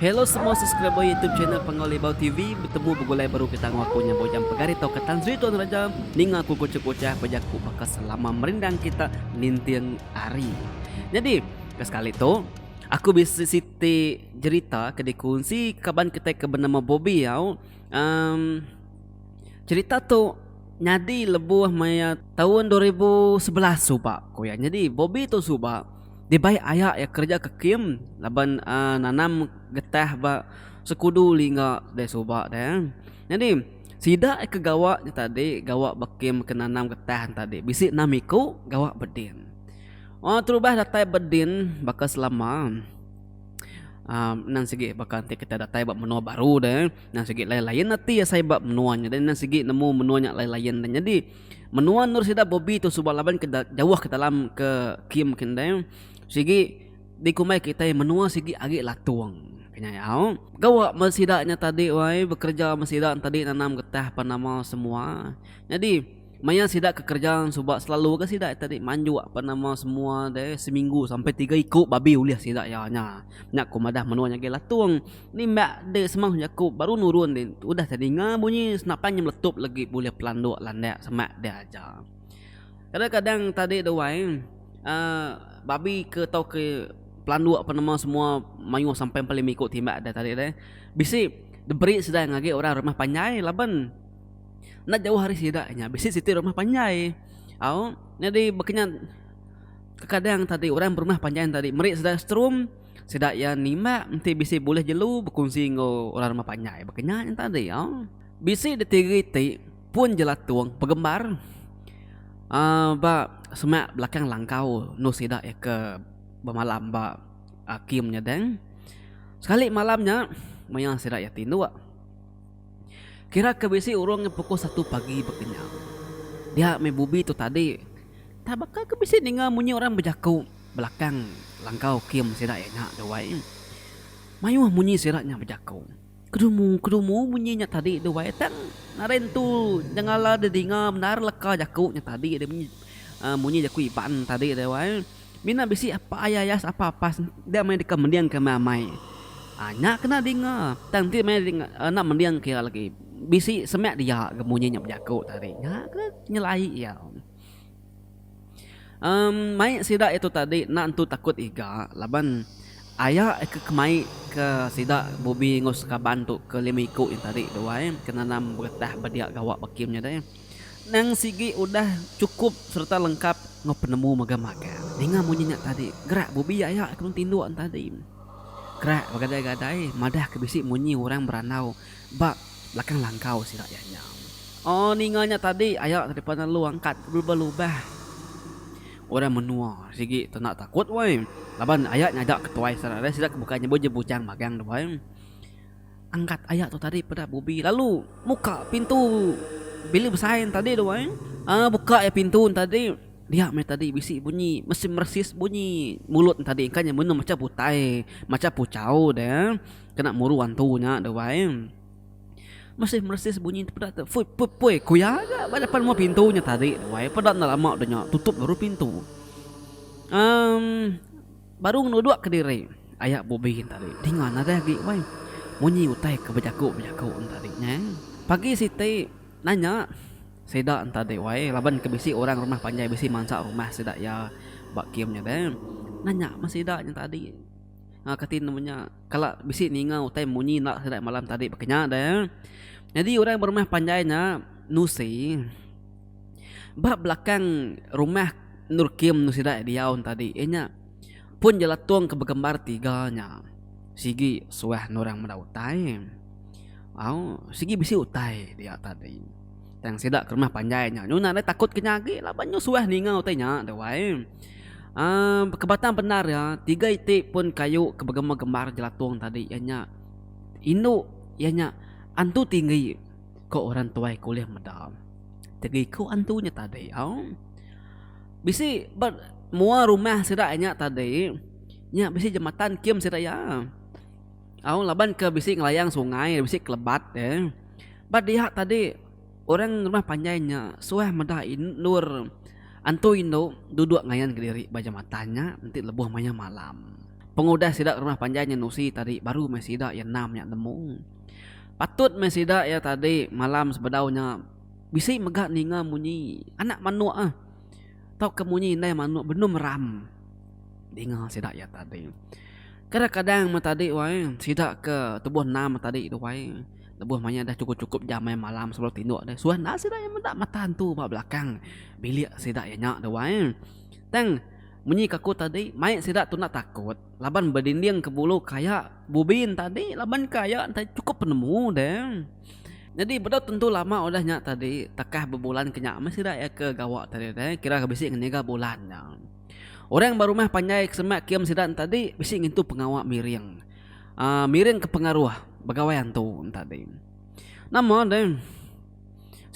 Hello semua subscriber youtube channel Pengawa Libau TV betemu begulai baru ke tangau aku nya bujang pegari tau ke Tan Sri Tuan Raja ninga aku kucuk kucah bejaku baka selama merindang kita ninting hari. Nyadi ke sekali tu aku bisi siti jerita ke dikunsi kaban kitai ke benama Bobby au um, Cherita tu nyadi lebuh maya taun dua ribu sebelas suba ku iya. Nyadi Bobby tu suba dibai aya iya kereja ke kem laban uhh nanam getah ba sekudu lingga deh suba deh. Nyadi sida iya ke gawa nya tadi gawa ba kem ke nanam getah nya tadi bisi enam iku gawa beding. Wang terubah datai beding baka selama uhh mending sigi baka enti kita datai ba menua baru deh. Endang sigi layan-layan ati iya sai ba menua nya endang sigi nemu menua nya layan-layan dah. Nyadi menua endur sida Bobby tu suba laban ke jauh ke dalam ke kem ke endang sigi dikumbai kitai menua sigi agi latung kenyau. Gawa meh sida nya tadi wai bekereja meh sida tadi nanam getah apan amal semua. Nyadi. Maya sida kekerja suba selalu ga sida tadi manjuk apa nama semua deh seminggu sampai tiga iku babi ulih sida iya nya. Nya ku madah menua nya agi Latung. Nimbak deh semang jaku baru nurun deh udah tadi ninga bunyi senapan nya meletup legi bulih pelanduk landak semak deh aja. Kadang-kadang tadi deh wai uhh babi ke tau ke pelanduk apa nama semua mayuh sampai empat lima iku timbak deh tadi deh bisi diberi sida ngagai orang rumah panjai laban. Enda jauh ari sida inya bisi siti rumah panjai. Au nyadi baka nya kekadang tadi orang berumah panjai tadi meri sida strum sida iya nimbak enti bisi bulih jelu bekunsi enggau orang rumah panjai baka nya nyen tadi au. Bisi ditiri ti pun jelatung pegembar aaa ba semak belakang langkau endur sida iya ke bemalam ba aa kem nyadang sekali malam nya maya sida iya tinduk. Kira ke bisi urung nya pukul satu pagi ba Kenyah. Dia meh bubi tu tadi. Tang baka ke bisi ninga munyi orang bejaku belakang langkau kim sida iya nya Duai. Mayuh munyi sida nya bejaku. Kedumu kedumu munyi nya tadi Duai tang nadai nentu nyengala didinga bendar leka jaku nya tadi munyi jaku Iban tadi Duai. Mina bisi apa aya aya sapa pas enda meh deka mending ke amai. Nya kena dinga tang enti meh enda mending ke lagi bisi semek dia ke munyi nya bejaku tadi nya kena nyelai iya. Em mai sida itu tadi enda entu takut iga laban aya ke kemai ke sida Bubi enggau sekaban tu ke lima iku nya tadi duai ke nanam beretah ba dia gawa ba kem nya deh. Endang sigi udah chukup sereta lengkap enggau penemu mega magang. Ninga munyi nya tadi, gerak Bubi aya ke mung tinduk enti adi. Kerak begadai-gadai madah ke bisi munyi orang berandau ba belakang langkau sida iya nya. Oh ninga nya tadi aya ke depan lalu angkat belubah-lubah. Orang menua sigi tu enda takut wei laban aya nyaga ketuai sida ari sida ke bukai nyebut ja bujang magang tu wei. Angkat aya tu tadi peda Bubi lalu muka pintu bilik besai yang tadi tu ai. Ah buka ya pintu yang tadi. Dia meh tadi bisi bunyi mesin meresis bunyi mulut yang tadi kan menu macam butai macam puchau dia kena muru hantu nya tu ai. Mesin meresis bunyi peda tu fut put poi ku iya aja ba depan rumah pintu nya tadi tu ai peda enda lama tu nya tutup baru pintu. Um. Baru ngenuduk ke diri. Ayak Bubi tadi dinga nadai agi wai munyi utai ke bejaku-bejaku tadi nya. Pagi siti nanya sida tadi wai laban ke bisi orang rumah panjai bisi mansa rumah sida iya ba kem nya deh. Nanya meh sida nya tadi enggau kati nemu nya kala bisi ninga utai munyi enda sida malam tadi baka nya deh. Nyadi orang berumah panjai nya nusi. Ba belakang rumah endur Kim tu sida diau ne tadi iya nya pun jelatung ke begembar tiga nya sigi suah endur orang meda utai au sigi bisi utai dia tadi tang sida ke rumah panjai nya nyau nadai takut ke nya agi laban nyau suah ninga utai nya deh wai uhh ke batang bendar iya tiga iti pun kayu ke begembar-gembar jelatung tadi iya nya indu iya nya antu tinggi. Ko orang tuai ko ulih meda. Tegi ko antu nya tadi au. Bisi ba mua rumah sida nya tadi nya bisi jematan kium sida iya. Au laban ke bisi ngelayang sungai bisi kelebat eh. Ba diha tadi orang rumah panjai nya suah meda endur antu indu duduk ngayan kediri ba jematan nya enti lebuh mayuh malam. Pengudah sida rumah panjai nya nusi tadi baru meh sida iya enam nya nemu. Patut meh sida iya tadi malam sebedau nya bisi mega ninga munyi anak manuk eh tauka munyi indai manuk benum ram dinga sida iya tadi. Kadang-kadang meh tadi wai sida ke tubuh enam meh tadi tu wai lebuh mayuh dah chukup-chukup jam mayuh malam sebedau tinduk deh suah enda sida iya meda mata entu ba belakang bilik sida iya nya tu wai. Tang munyi ke aku tadi mai sida tunda takut. Laban bedinding ke bulu kaya bubin tadi laban kaya enti cukup penemu deh. Nyadi bedau tentu lama udah nya tadi takah bebulan ke nya meh sida iya ke gawa tadi deh kira bisi ngenega bulan nya. Orang berumah panjai ke semak kium sida ne tadi bisi ngintu pengawa miring aaa miring ke pengaruh begawai antu ne tadi. Nama deh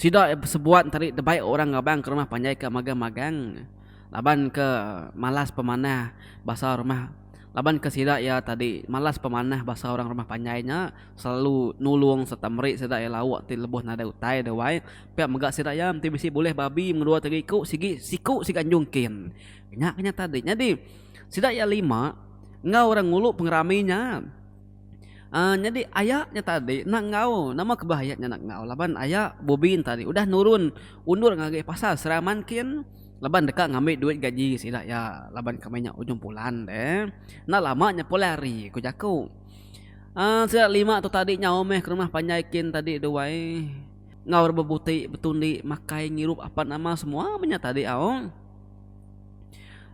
sida iya besebuat tadi deba orang raban ke rumah panjai ke magang-magang. Laban ke malas pemanah basa rumah laban ke sida iya tadi malas pemanah basa orang rumah panjai nya selalu nulung serta meri sida iya lauk ti lebuh nadai utai dewai pia mega sida iya enti bisi bulih babi mengedua tiga iku sigi siku siga anjung kin nya ke nya tadi nyadi sida iya lima enggau orang ngulu pengerami nya um nyadi aya nya tadi enda enggau nama ke bah aya nya enda enggau laban aya bubin tadi udah nurun undur ngagai pasar seraman kin. Laban deka ngambi duit gaji sida iya laban kami nya ujung bulan deh. Enda lama nya pulai hari, ku jaku. Aaa sida lima tu tadi nyau meh ke rumah panjai kin tadi tu wai. Enggau rak bebuti, betundi, makai, ngirup apat nama semua meh nya tadi au.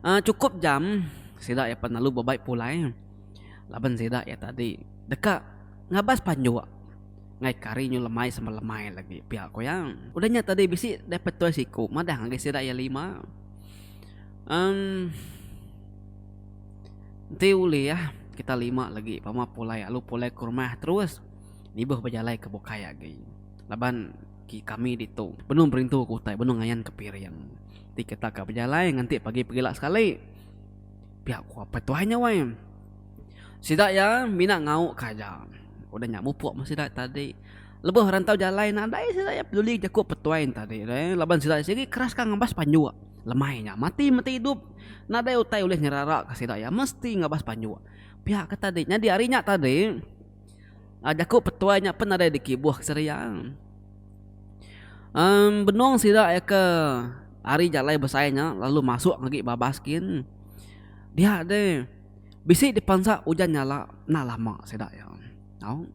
Aaa chukup jam sida iya pan lalu bebai pulai laban sida iya tadi deka ngabas panjuk. Ngai kari nyu lemai sama lemai lagi pia ku iya. Udah nya tadi bisi deh petoi siku madah ngagai sida iya lima. Em Enti ulih kita lima lagi pama pulai alu pulai ke rumah terus nibuh bejalai ke bukai agi laban ki kami ditu benung berintu ke utai benung ngayan ke piring. Ti kita ka bejalai nganti pagi pegila sekali. Pia ku apai tuai nya wai. Sida iya mina ngau ka aja. Udah nya mupuk meh sida tadi. Lebuh rantau jalai nadai sida iya peduli jaku petuai tadi reh laban sida iya sendiri keras ka ngabas panjuk. Lemai nya mati meti idup nadai utai ulih nyerara ka sida iya mesti ngabas panjuk. Pia ka tadi nyadi ari nya tadi. Um jaku petuai nya pen nadai dikibuh ke seria. Um benung sida iya ke ari jalai besai nya lalu masuk ngagai babas gin. Dia deh bisi dipansa ujan nyala enda lama sida iya tau.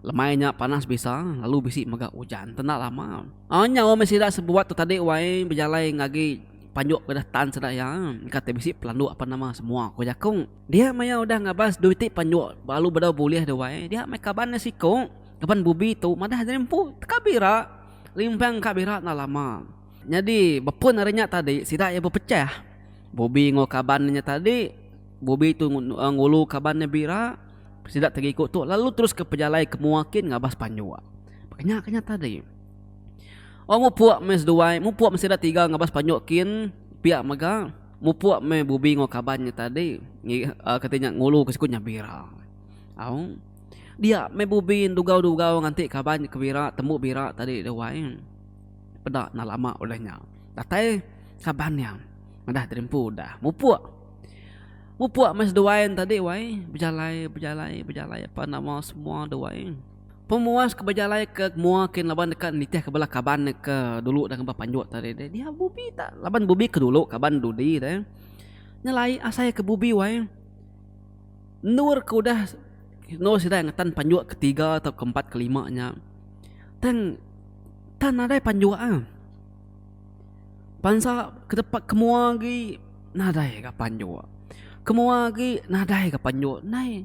Lemai nya panas bisa lalu bisi mega ujan tu enda lama. Um nyau meh sida sebuat tu tadi wai bejalai ngagai panjuk ke udah tan sida iya. Engka ti bisi pelanduk apan nama semua ku jaku. Dia maya udah ngabas dui ti panjok belalu bedau bulih dia wai, dia mai kaban dia siko, kaban Bubi tu madah jadi empu teka bira, limpang ka bira enda lama. Nyadi bepun ari nya tadi sida iya bepechah, Bubi enggau kaban nya tadi, Bubi tu ngulu kaban nya bira, sida ti giku tu lalu teruska pejalai ke mua kin ngabas panjok. Baka nya ke nya tadi. Wang mupuk meh seduai, mupuk meh sida tiga ngabas panjok kin pia mega. Mupuk meh Bubi enggau kaban nya tadi kati nya ngulu ke siku Nyabira. Au. Dia meh Bubi dugau-dugau nganti kaban nya ke Bira tembu Bira tadi deh wai. Peda nah lama udah nya. Datai kaban nya madah diri empu udah. Mupuk. Mupuk meh seduai ne tadi wai bejalai bejalai bejalai apa nama semua deh wai. Pemuas ke bejalai ke mua kin laban deka nitih ke bala kaban ne ke dulu dah ngempa panjut tadi deh. Dia bubi ta laban bubi ke dulu kaban dudi deh. Nyelai asai ke bubi wai endur ke udah endur sida ngetan panjut ke tiga ato ke empat ke lima nya tang tan nadai panjut ah. Bansa ke tempat ke mua agi nadai ga panjut. Ke mua agi nadai ga panjut nai.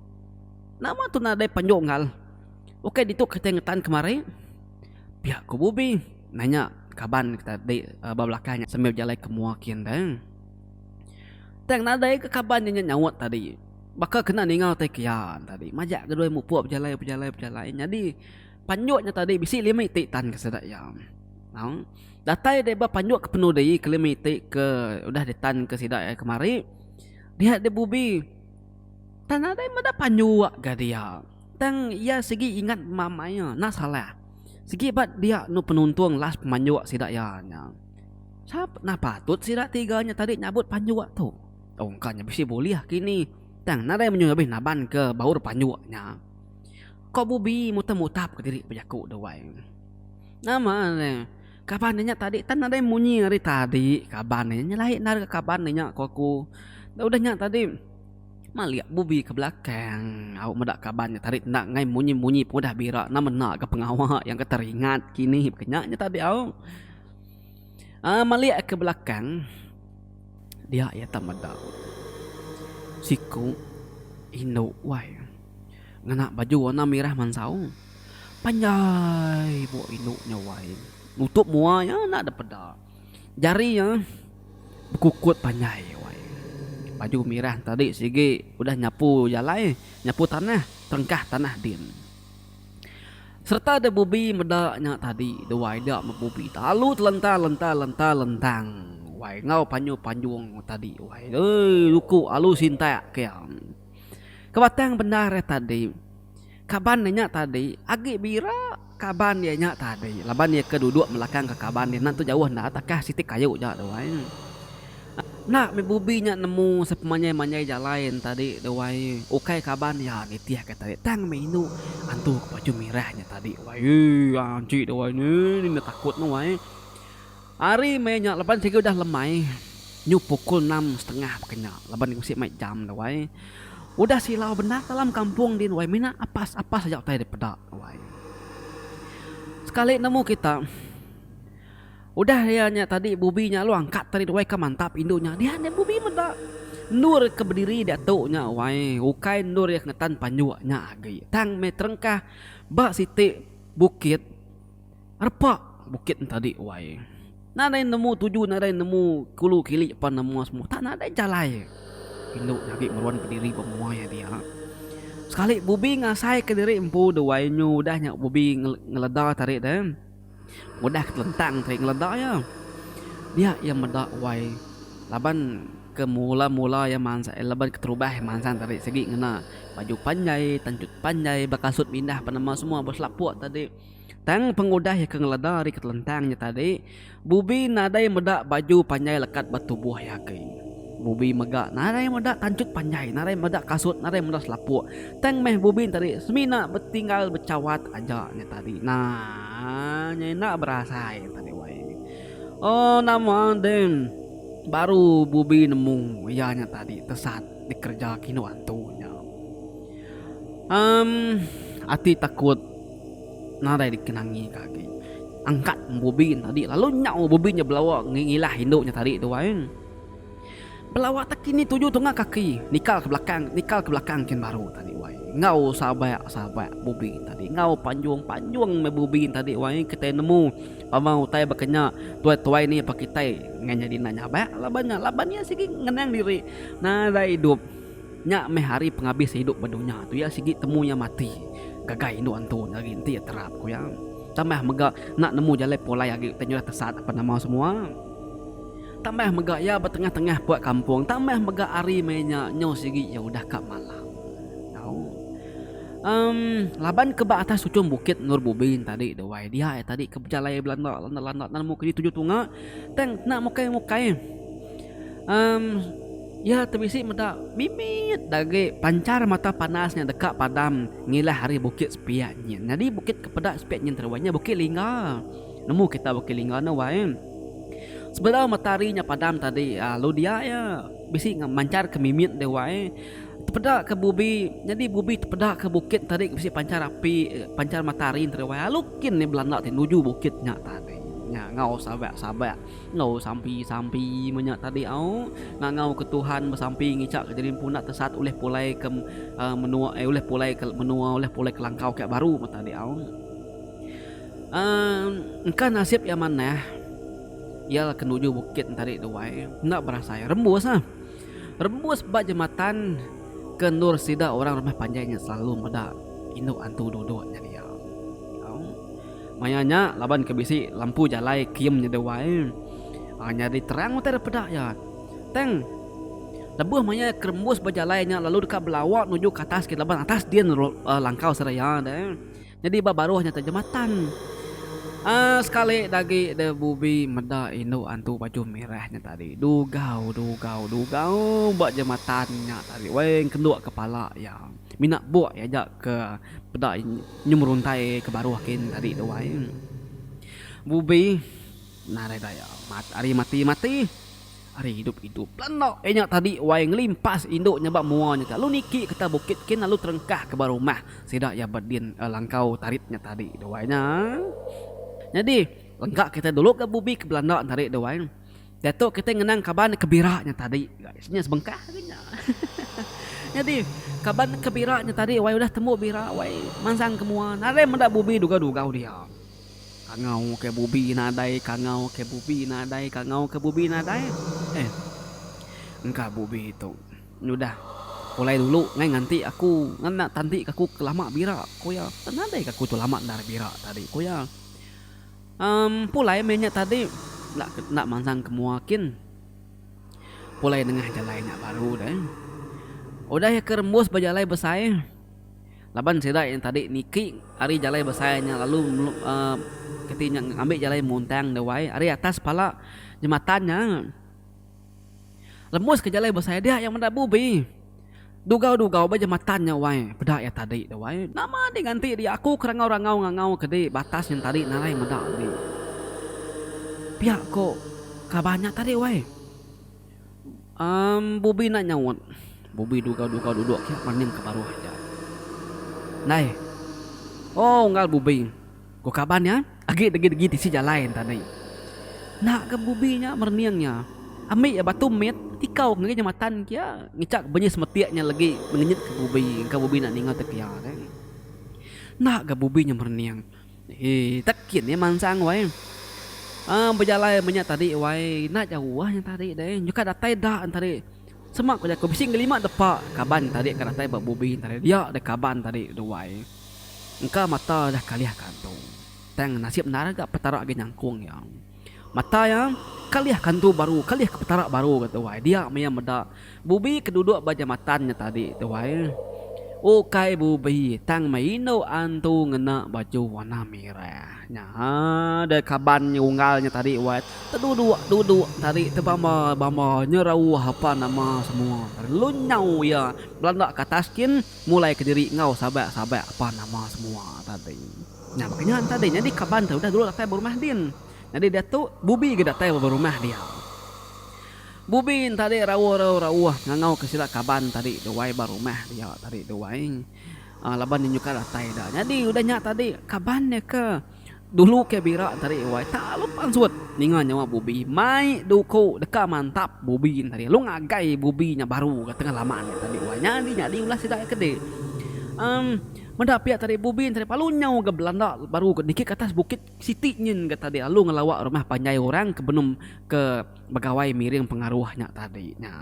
Nama tu nadai panjok enggau le. Ukai ditu kitai ngetan kemari, pia ku Bubi nanya kaban ke tadi ba belakang nya sambil bejalai ke mua kin deh. Tang nadai ke kaban inya nyaut tadi. Baka kena ninga utai ke iya tadi. Majak ke dua mupuk bejalai bejalai bejalai nyadi panjok nya tadi bisi lima iti tan ke sida iya. Au. Datai deh ba panjok ke penudi ke lima iti ke udah ditan ke sida iya kemari, dia deh Bubi. Tang nadai meda panjua ga dia. Tang iya sigi ingat mama iya enda salah. Sigi ba dia enu penuntung last pemanjua sida iya nya. Sap nah patut sida tiga nya tadi nyabut panjua tu. Ungka nya bisi bulih kini. Tang nadai menyuh abih naban ke baur panjua nya. Ko Bubi mutap-mutap ke diri bejaku da wai. Nama ne kaban inya tadi tang nadai munyi ari tadi kaban inya nyelai enda ga kaban inya ko aku. Dah udah nya tadi. Malik bubi ke belakang au meda kaban nya tadi enda angai munyi-munyi pun udah bira nama enda ga pengawa yang ke teringat kini ke nya nya tadi au. Aa malik ke belakang dia iya tak meda siku indu wai ngena baju warna merah mansau panjai buk indu nya wai nutup mua iya enda dipeda. Jari iya bekukut panjai wai. Baju mirah entadi sigi udah nyapu jalai, nyapu tanah, terengkah tanah din. Sereta dek Bubi meda nya tadi dua ida meh Bubi telalu telenta lenta lenta lentang wai enggau panyu panjung tadi wai oi luku alu sintak ke iya. Ke batang bendar iya tadi. Kaban iya nya tadi agi bira kaban iya nya tadi laban iya ke duduk belakang ke kaban dia enda tentu jauh enda takah siti kayu ja tu ai. Enda meh bubi nya nemu sepemanjai-manjai jalai nya tadi tu ai. Ukai kaban iya nitih ka tadi tang meh indu antu ke baju merah nya tadi wai. Ii anchi tu ai ni enda takut tu ai. Hari meh nya laban sigi udah lemai nyu pukul enam setengah baka nya laban bisi mai jam tu wai. Udah silau bendar dalam kampung din wai mina apas-apas aja utai dipeda tu wai. Sekali nemu kita udah iya nya tadi bubi nya lalu angkat tadi tu wai ka mantap indu nya dian nya bubi meda endur ke bediri diatu nya wai ukai endur iya ke ngetan panjuk nya agi tang meh terengkah ba siti bukit. Repa bukit entadi wai. Nadai nemu tuju nadai nemu kulu kili pan nama semua tak nadai jalai indu nyadi meruan pendiri ba menua iya dia. Sekali Bubi ngasai ke diri empu de wai nyu udah nya Bubi ngeleda tarik de udah ke telentang tarik ngeleda iya. Dia iya meda wai laban ke mula mula iya mansa laban keterubah iya mansang tarik sigi ngena baju panjai tanjut panjai bekasut mindah pan nama semua beselapo tadi. Tang pengudah iya ke ngeleda ari ketelentang nya tadi, Bubi nadai meda baju panjai lekat ba tubuh iya agi. Bubi mega nadai meda tanchut panjai, nadai meda kasut, nadai meda selapuk. Tang meh Bubi nya tadi semina betinggal bechawat aja nya tadi. Naa nya enda berasai nya tadi wai. Oh nama deh baru Bubi nemu iya nya tadi tesat dikereja ke indu antu nya. Amm ati takut. Nadai dikenangi ka agi. Angkat bubin tadi lalu nyau bubin nya belawa ngilah indu nya tadi tuai. Belawa tak kini tuju tunga kaki nikal ke belakang nikal ke belakang kin baru tadi wai. Enggau sabak sabak bubin tadi enggau panjung panjung meh bubin tadi wai kitai nemu pama utai baka nya tuai tuai ni pa kitai ngan nyadi anak nyabak laban nya laban iya sigi ngenang diri nadai idup. Nya meh hari pengabis idup ba dunya tu iya sigi temu iya mati gagai indu antu nya agi enti iya terap ku iya. Tambah mega enda nemu jalai pulai agi utai nyudah tesat apan nama semua. Tambah mega iya ba tengah-tengah puak kampung tambah mega hari meh nya nyau sigi iya udah ka malam tau. Em laban ke ba atas ujung bukit endur bubin tadi tu wai dia iya tadi ke bejalai belanda landa-landa enda nemu kidi tuju tunga tang enda mukai-mukai. Emm, iya tu bisi meda mimit dai agi panchar mata panas nya deka padam ngilah ari Bukit Sepiak nyin. Nyadi Bukit ke peda Sepiak nyin teruai nya Bukit Lingga. Nemu kita Bukit Lingga nya wai. Sebedau matahari nya padam tadi aaa lalu dia iya bisi manchar ke mimit dia wai. Tepeda ke bubi, nyadi bubi tepeda ke bukit tadi ke bisi panchar api, panchar matahari teruai lalu kin iya belanda nuju bukit nya tadi nya enggau sawa-sawa. Enggau sampi-sampi menya tadi au ngangau ke Tuhan besampi ngicak ke diri empu enda tesat ulih pulai ke menua ai ulih pulai ke menua ulih pulai ke langkau ke baru meh tadi au. Um engka nasib iya manah iya la kenuju bukit tadi tu wai enda berasai rembus ah rembus ba jematan ke endur sida orang rumah panjai nya selalu meda indu antu duduk nya dia au. Maya nya laban ke bisi lampu jalai kium nyeda wai nyadi terang utai daripada iya. Tang lebuh maya iya kerembus ba jalai nya lalu deka belawa nuju ke atas gin laban atas din langkau seraya de nyadi ba baruh nya tu jematan. Aaa sekali da agi de Bubi meda indu antu baju merah nya tadi dugau dugau dugau ba jematan nya tadi weh kendu kepala iya. Mina buk iya aja ke peda. Nyu meruntai ke baruh kin tadi tu ai. Bubi narai daya mat ari mati mati ari idup idup. Belanda inya tadi wai ngelimpas indu nya ba mua nya ke lalu niki ke ta bukit kin lalu terengkah ke ba rumah sida iya ba din langkau tarit nya tadi tu ai nya. Nyadi lengka kita dulu ga bubi ke belanda tadi tu ai. Diatu kitai ngenang kaban ke bira nya tadi guys. Nya sebengkah agi nya. Nyadi kaban ke bira nya tadi wai udah tembu bira wai mansang ke mua nadai meda bubi dugau-dugau dia. Kangau ke bubi nadai, kangau ke bubi nadai, kangau ke bubi nadai. Eh. Engka bubi tu nyudah pulai dulu ngai nganti aku ngena tanti ke aku ke lama bira ku iya. Nadai ke aku tu lama endar bira tadi ku iya. Pulai meh nya tadi enda enda mansang ke mua kin. Pulai nengah jalai nya baru deh. Udah iya ke rembus ba jalai besai laban sida yang tadi niki ari jalai besai nya lalu uhh kati nya ngambi jalai muntang dewai ari atas pala jematan nya. Lembus ke jalai besai dia yang meda bubi. Dugau dugau ba ja matan nya wai peda ya tadi da wai nama di nganti dia aku ke rangau rangau ngangau ke di batas nyen tadi narai meda agi. Pia ko kaban nya tadi wai. Em bubi enda nyaut. Bubi dugau dugau duduk ke maning ke baruh ja. Nai. Oh unggal bubi. Ku kaban nya, agi degi-degi tisi jalai enta dei. Enda ke bubi nya merening nya. Ambi iya batu mit, tikau ngagai jematan kia, ngichak benyi semetik nya legi ngenyit ke bubi engka bubi enda ninga te pia dei. Enda ke bubi nya merening. Hee tak kin iya mansang wai. Aaa bejalai meh nya tadi wai, enda jauh nya tadi dei. Nyau ka datai da enta dei. Sema ku jaku bisi ngelima depa kaban tadi ka datai ba bubi enta dei. Dia deh kaban tadi duai. Engka mata udah kalih kantu. Tang nasib endar ga Petara agi nyangkung iya. Mata iya kalih kantu baru, kalih ke Petara baru ga tuai. Dia meh iya meda Bubi ke duduk ba jamatan nya tadi tuai. Ukai Bubi tang meh indu antu ngena baju warna merah nya deh kaban nya unggal nya tadi wai. Teduduk duduk nya tadi tebama bama nyerauh apa nama semua lalu nyau iya belanda ke atas kin. Mulai kediri enggau sabak-sabak pan nama semua tadi. Nya baka nya tadi nyadi kaban tu udah dulu datai ba rumah din. Nyadi diatu Bubi ga datai ba rumah dia. Bubi tadi rauh-rauh-rauh ngangau ka sida kaban tadi tu ai ba rumah dia tadi tu ai. Laban indu ka datai da. Nyadi udah nya tadi kaban dia ke. Dulu ke bira tadi wai tak lu pansut ninga nyawa bubi mai duku deka mantap bubi nya tadi lu ngagai bubi nya baru ga tengah lama nya tadi wai nyadi nyadi ulah sida ke di um meda pia tadi bubi nya tadi palu nyau ga belanda baru ga niki atas bukit siti nyin ga tadi lalu ngelawa rumah panjai orang ke benum ke begawai miring pengaruh nya tadi nya.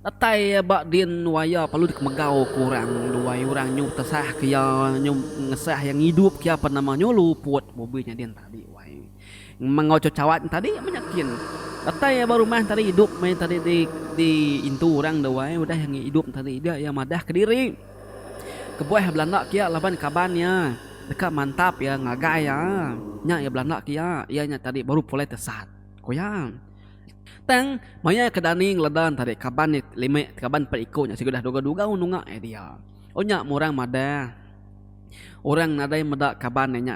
Datai iya ba din nuai iya perlu dikemegau ke orang nuai orang nyu tesah ke iya nyu ngesah iya ngidup ke iya apan nama nyu luput bobi nya din tadi wai mengau cawan tadi menyakin datai iya ba rumah tadi idup meh tadi di di intu orang da wai udah iya ngidup tadi dia iya madah kediri kebuah iya belanda ke iya laban kaban iya deka mantap iya ngagai iya nya iya belanda ke iya iya nya tadi baru pulai tesat. Ku iya. Tang, maya ke Dani ngeleda entara kaban iya lima ti kaban empat iku nya sigudah dugau-dugau nunga iya dia. Oh nya meh orang madah. Orang nadai meda kaban iya nya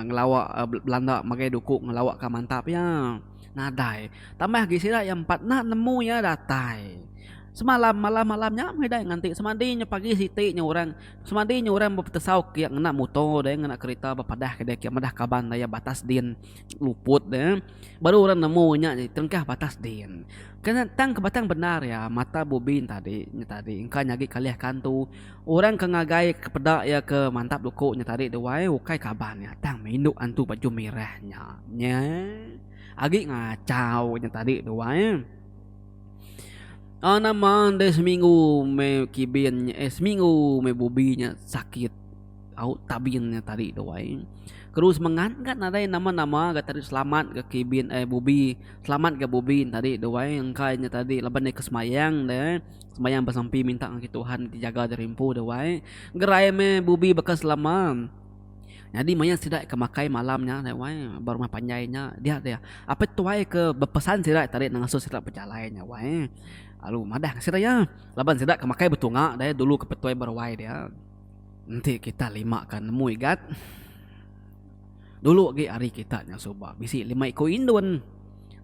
ngelawa belanda ngagai duku ngelawa ka mantap iya. Nadai. Tambah agi sida iya empat enda nemu iya datai. Semalam malam-malam nya meh dai nganti semadi nya pagi siti nya orang semadi nya orang bepetesau kiye ngena muto deh ngena kereta bepadah ke dia kiye madah kaban daya batas din. luput ya baru orang nemu nya di tengkah batas din kena tang ke batang bendar iya mata bubin tadi nya tadi engka nyadi kalih kantu orang ke ngagai ke peda iya ke mantap duku nya tadi duai ukai kaban iya tang mindu antu baju merah nya nya agi ngachau nya tadi duai au nama andai seminggu meh kibin nya eh seminggu meh bubi nya sakit. Au tabin nya tadi tu ai. Keru semengat ga nadai nama-nama ga tadi selamat ga kibin ai bubi. Selamat ga bubi ne tadi tu ai. Engka inya tadi laban deka sembayang ne. Sembayang besampi minta ngagai Tuhan ti jaga diri empu tu ai. Gerai meh bubi baka selama. Nyadi maya sida ke makai malam nya tu ai ba rumah panjai nya dia dia apai tuai ke bepesan sida tadi nang ngasuh sida bejalai nya wai. Lalu madah ngasih raya laban sida ke makai betunga dulu ke petuai beruai dia. Enti kita lima ka nemu igat. Dulu agi ari kita nya suba bisi lima iku indun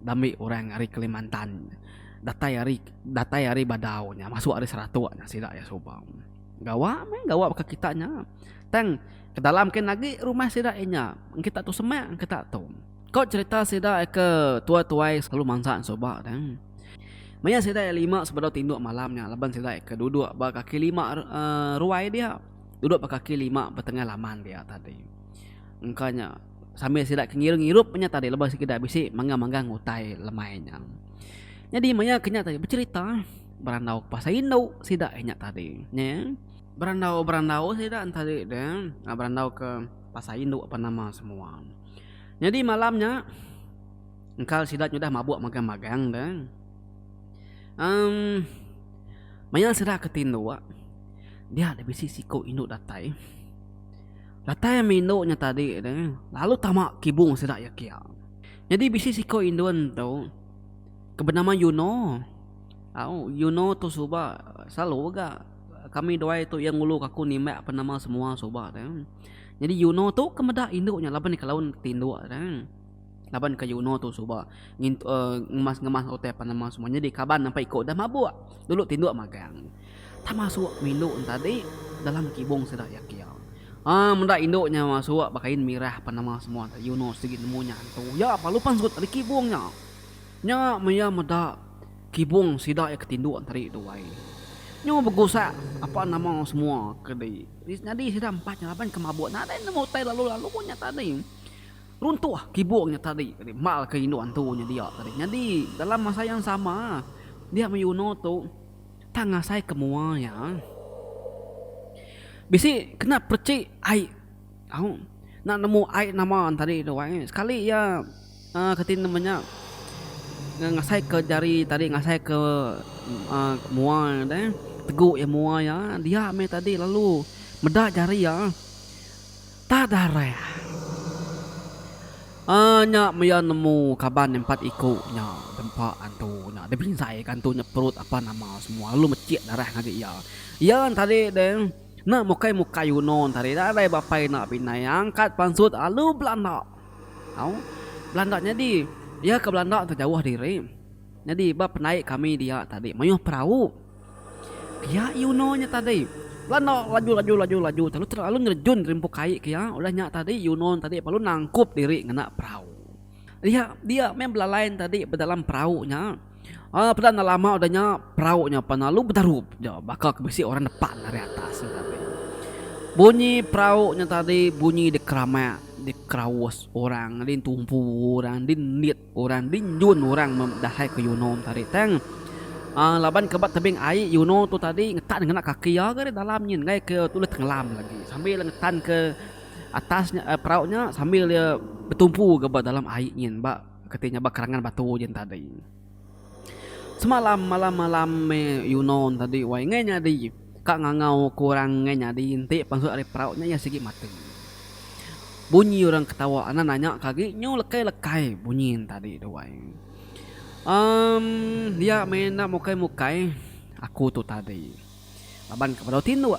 dambi orang ari Kalimantan datai ari datai ari Badau nya masuk ari Seratok nya sida iya suba. Gawa meh gawa baka kita nya tang ke dalam kin agi rumah sida inya ngkita tu semak ngkita tu. Ko cherita sida ke tua tuai selalu mansa suba dang. Maya sida ia lima sebedau tinduk malam nya laban sida ke duduk ba kaki lima ruai dia duduk ba kaki lima ba tengah laman dia tadi. Engka nya sambil sida ke ngirup ngirup nya tadi laban sida bisi manggang manggang utai lemai nya. Nyadi maya ke nya tadi becherita berandau ke pasal indu sida nya tadi nya. Berandau berandau sida nya tadi dang berandau ke pasal indu apan nama semua. Nyadi malam nya engkau sida nyudah mabuk magang magang dah. Um maya sida ke tinduk dia da bisi siku indu datai. Datai ama indu nya tadi tu lalu tama kibung sida iya kia. Nyadi bisi siku indu ento ke benama yuno. Au yuno tu suba selalu ga kami duai tu iya ngulu aku nimbak apa nama semua suba tu. Nyadi Yunoh tu ke meda indu nya laban iya ke laun ke tinduk tang. Laban ke Yunoh tu suba ngintu uh, ngemas-ngemas utai pan nama semua nyadi kaban nampai iko dah mabuk. Dulu tinduk magang. Tak masuk indu tadi dalam kibung sida iya kia. Ah meda indu nya masuk bekain mirah pan nama semua tadi Yunoh sigi nemu nya hantu. Ya pa lupan sut tadi kibung nya. Nya maya meda kibung sida iya ke tinduk tadi tuai. Nyu begusak apa nama semua ke di Di senyadi sida empat nya laban ke mabuk nadai nemu utai lalu-lalu nya tadi. Runtuh kibung nya tadi mal ke indu antu nya dia tadi. Nyadi dalam masa yang sama dia mayuno tu tang asai ke mua iya bisi kena perechik ai au nak nemu ai nama tadi tu ai sekali iya. Kati nama nya ngasai ke jari tadi ngasai ke mua deh teguk iya mua iya dia mih tadi lalu meda jari iya tak dareh uhh nya mih iya nemu kaban empat iku nya dempa antu nya deh binzai ka antu nya perut apa nama semua lalu mecik dareh ngagai iya iya tadi deh enda mukai mukai uno tadi dareh ba pai enda pinai angkat pansut lalu belanda. Au, belanda nyadi. Iya ke belanda tu jauh diri. Nyadi ba pendai kami dia tadi mayuh perau. Pia Yunoh nya tadi. Belanda laju laju laju laju telu tera lalu nerejun rimpu kai ke iya. Udah nya tadi Yunoh tadi perlu nangkup diri ngena perau. Dia dia meh belalai tadi bedalam perau nya. Aa peda enda lama udah nya perau nya pan lalu betarup ja baka ke bisi orang nepak nang ari atas nya tadi. Bunyi perau nya tadi bunyi dikeramak, dikeraus orang, ditumpu orang, dinit orang, dinjun orang meh dahai ke Euno tadi tang. Aa laban ke ba tebing ai Euno tu tadi ngetan ngena kaki iya ga ari dalam nyin enggai ke tulih tengelam lagi sambil iya ngetan ke atas nya perau nya sambil iya betumpu ga ba dalam ai nyin ba. Keti ngabar kerangan batu je tadi. Semalam malam malam meh yuno tadi wai ngai nyadi ka ngangau ke orang ngai nyadi enti pansut ari perau nya iya sigi mati. Bunyi orang ketawa anak nanya ka agi nyu lekai lekai bunyi tadi tu wai. Um dia meh enda mukai mukai aku tu tadi laban ke bedau tinduk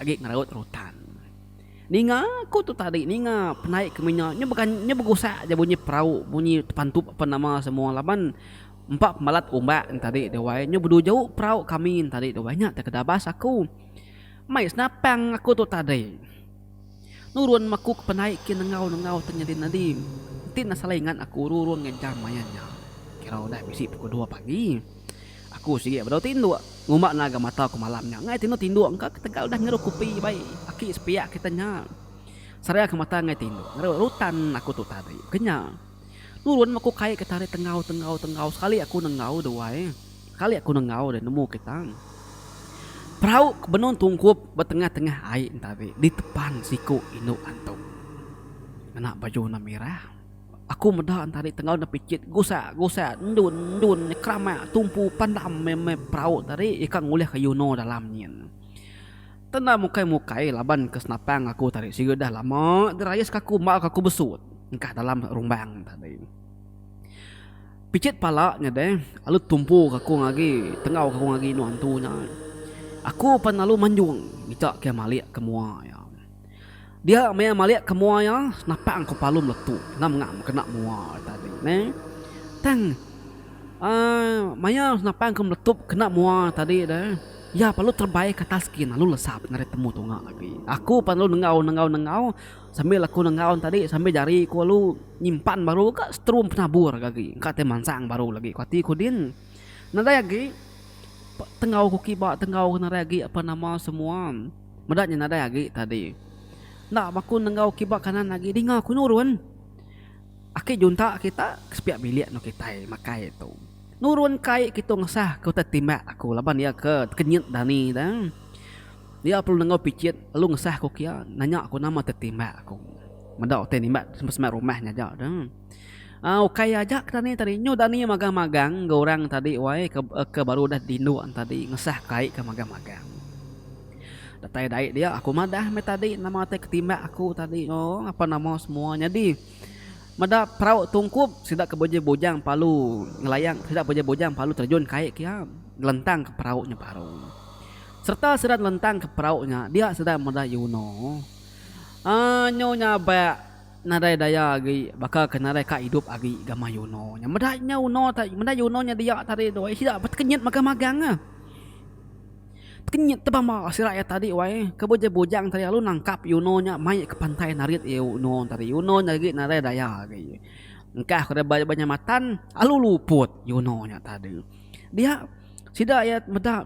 agi ngeraut rutan. Ninga aku tu tadi ninga penai kami nya nya bega nya begusak aja bunyi perau bunyi tepantup ape nama semua laban empa pemalat umbak nya tadi tu wai nya bedu jauh perau kami nya tadi tu wai nya te kedabas aku mei senapang aku tu tadi nurun me aku ke penai ke nengau nengau te nyadi nyadi ti nak selai ingat aku rurun ngejam maya nya kira udah bisi pukul dua pagi. Aku sigi bedau tinduk ngumba naga mata ku malam nya ngai tinu tinduk engka ketegal dah ngeru kupi bai aki sepiak kita nya. Sarea ke mata ngai tinduk ngeru rutan aku tu tadi kenya. Nurun meh aku kai ke tali tenggau tenggau tenggau sekali aku nenggau duai sekali aku nenggau deh nemu kita. Perau ke benung tungkup ba tengah tengah ai ntadi ditepan siku indu antu ngena baju warna merah. Aku meda entari tenggau nepicit gusak gusak endun endun nyekeramak tumpu pandam meh meh perau tadi ika ngulihka Yuno dalam nyin. Tenda mukai mukai laban ke senapang aku tadi siga dah lama dirayis ka aku embau ka aku besut engkah dalam rumbang tadi. Picit pala nya deh alu tumpu ka aku ngagi tenggau ka aku ngagi inu antu nya. Aku pan lalu manjung ngicak ke malik ke mua iya. Dia maya malik ke mua iya napang ku palu meletu ngam ngak mekena mua ari tadi neh. Tang uhh maya napang ku meletup kena mua tadi deh iya perlu terebai ke atas gin lalu lesap ngagai temu tunga agi. Aku pan lalu nengau nengau nengau sambil aku nengau ne tadi sambil jari ku lalu nyimpan baru ka setrum penabur ke agi engka tai mansang baru lagi ku ati ku din. Nadai agi tengau ku kiba tengau nadai agi apa nama semua. Meda nya nadai agi tadi. Enda baku nenggau kiba kanan agi dinga ku nurun. Aki junta kita ke sepiak bilik enggau kitai makai tu. Nurun ke ai kitu ngesah ke utai timbak aku laban iya ke kenyit dani da. Iya perlu nenggau pichit lalu ngesah ku kiya nanya ku nama ti timbak aku. Meda utai nimbak semba semba rumah ngaja da. Aa ukai aja ke tani tadi nyu tani magang magang enggau orang tadi wai ke ke baru udah di indu tadi ngesah kai ke magang magang datai dai dia aku madah meh tadi nama ti ke timbak aku tadi ooh apan nama semua nyadi meda perau tungkup sida ke bujang bujang palu ngelayang sida bujang bujang palu terjun kai ke iya ngelentang ke perau nya baru serta sida ngelentang ke perau nya dia sida meda yono aa nyu nyabak Nadai daya agi baka ke nadai ka idup agi gamai Yuno nya. Meda nya Uno ta meda Yuno nya dia ta ari doi sida ba tekenyit magang magang ah. Tekenyit tebamba sida iya tadi wai ke bujang bujang tadi lalu nangkap Yuno nya mai ke pantai narit iya Uno tadi. Uno nya agi nadai daya agi. Engkah ko deba deba nya matan lalu luput Yuno nya tadi. Dia sida iya meda.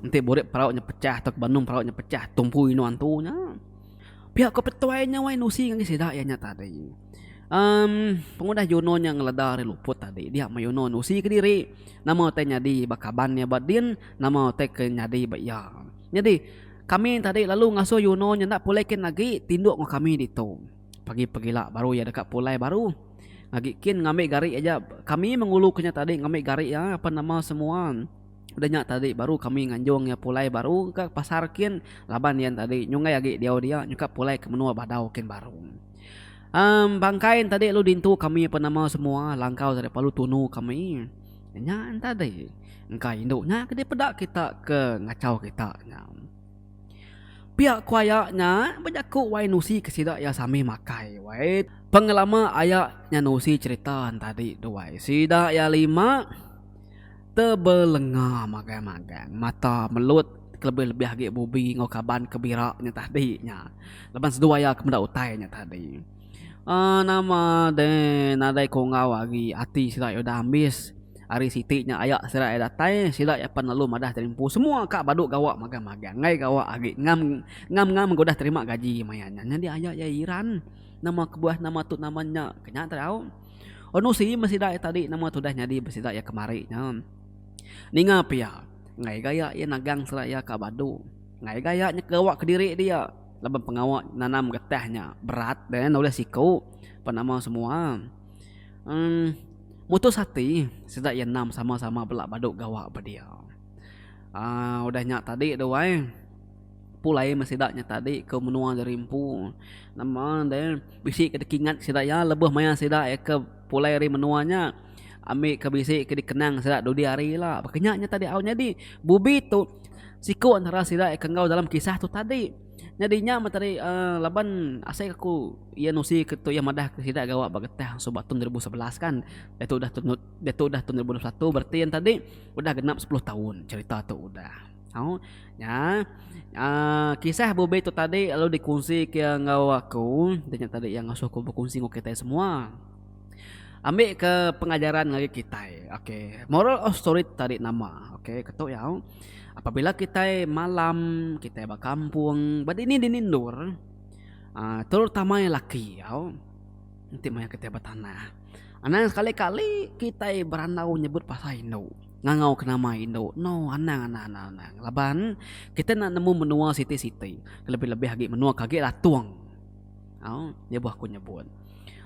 Enti burit perau nya pechah tauka banum perau nya pechah tumpu inu antu nya. Pia ko petuai nya wai nusi ngagai sida iya nya tadi. Em pengudah Yono nya ngeleda ari luput tadi dia meh Yono nusi kediri nama utai nyadi ba kaban iya ba din nama utai ke nyadi ba iya. Nyadi kami tadi lalu ngasuh Yono nya enda pulai kin agi tinduk enggau kami ditu. Pagi pegila baru iya deka pulai baru agi kin ngambi gari aja kami mengulu ke nya tadi ngambi gari iya apan nama semua. Udah nya tadi baru kami nganjung iya pulai baru ka pasar kin laban iya tadi nyunggai agi diau dia nyungkak pulai ke menua Badau kin baru. Um bangkai ne tadi lalu dintu kami apan nama semua langkau daripada palu tunu kami nya tadi engka indu nya ke dipeda kita ke ngachau kita nya. Pia ku aya nya bejaku wai nusi ke sida iya sami makai wai pengelama aya nya nusi cherita tadi tu wai sida iya lima. Tebelenga magang-magang mata melut kelebih-lebih agi Bubi enggau kaban ke bira nya tadi nya laban seduai iya ke meda utai nya tadi. Aaa nama deh nadai ku enggau agi ati sida iya udah ambis hari siti nya aya sida iya datai sida iya pan lalu madah tadi empu semua ka badu gawa magang-magang enggai gawa agi ngam ngam-ngam mega udah terima gaji maya nya nyadi aya iya iran nama kebuah nama tu nama nya ke nya tau. Onusi besida iya tadi nama tudah nyadi besida iya kemari nya. Ninga pia, enggai gaya iya nagang sera iya ka badu. Enggai gaya nya kegawa kediri dia laban pengawa nanam getah nya berat deh nulih siku ba nama semua. Em mutus ati sida iya enam sama-sama bela badu gawa ba dia. Aa udah nya tadi duai. Pulai meh sida nya tadi ke menua Jari Empu. Nama deh bisi ke dikingat sida iya lebuh maya sida iya ke pulai ari menua nya ambi ke bisi ke dikenang sida dudi hari ila. Baka nya nya tadi au nyadi Bubi tu siku antara sida iya ke enggau dalam kisah tu tadi. Nyadi nya meh tadi aaa laban asai aku iya nusi ke tu iya madah ke sida gawa ba getah suba tahun dua ribu sebelas kan. Diatu udah diatu udah tahun dua ribu dua puluh satu bereti yen tadi udah genap sepuluh taun cherita tu udah. Au nya uh, kisah bubi tu tadi lalu dikunsi ke enggau aku dia tadi yang ngasuh aku berkunsi enggau kita semua ambil ke pengajaran ngagai kita okay. moral of story tadi nama okay. ketuk ya apabila kita malam kita bakampung berdini di nindur uh, terutama yang laki ya nanti maya kita bertanah anang sekali-kali kita berandau nyebut pasal indu Ngangau ke nama indu eno anang anang anang anang laban kita enda nemu menua siti siti kelebih lebih agi menua ke agi latung au nya buah aku nyebut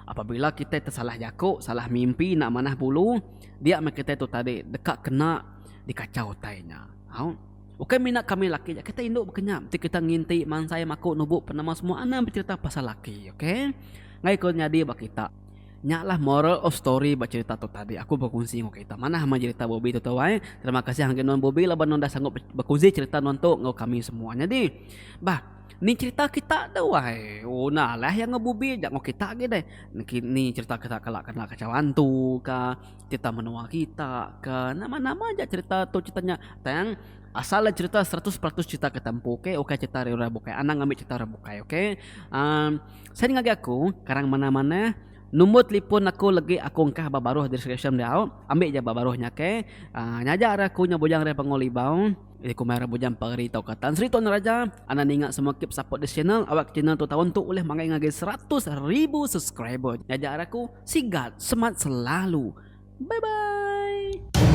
apabila kita ti salah jaku salah mimpi enda manah bulu dia meh kita tu tadi deka kena di kachau utai nya au ukai mina kami laki aja kita indu bekenyap ti kita nginti mansai maku nubu penemu semua anang becerita pasal laki okay ngai ko nyadi ba kita. Nya lah moral of story ba cerita tu tadi aku bekunsi enggau kita. Manah amat cerita Bobi tu tuai. Terima kasih ngagai nuan Bobi laban nuan dah sanggup bekunsi cerita nuan tu enggau kami semua. Nyadi bah ni cerita kita tuai. Oh nah alah iya enggau Bobi aja enggau kita agi deh. Ni cerita kita kala kena kacau antu kah, cerita menua kita kah, nama nama aja cerita tu cerita nya. Tang asal ne cerita seratus peratus cerita kita empu okay. Ukai cerita orang bukai. Anang ngambi cerita orang bukai okay. Aaa. Sien ngagai aku karang manah-manah number telipon aku legi aku engkah ba baruh deskripsyen diau ambi ja ba baruh nya okay nyaja ari aku nya bujang ari Pangu Libau jadi aku mai ari bujang Pageri tauka Tan Sri Tuan Raja anda ninga semua keep support this channel awak channel tu taun tu ulih manggai ngagai seratus ribu subscriber nyaja ari aku sigat semat selalu bye bye.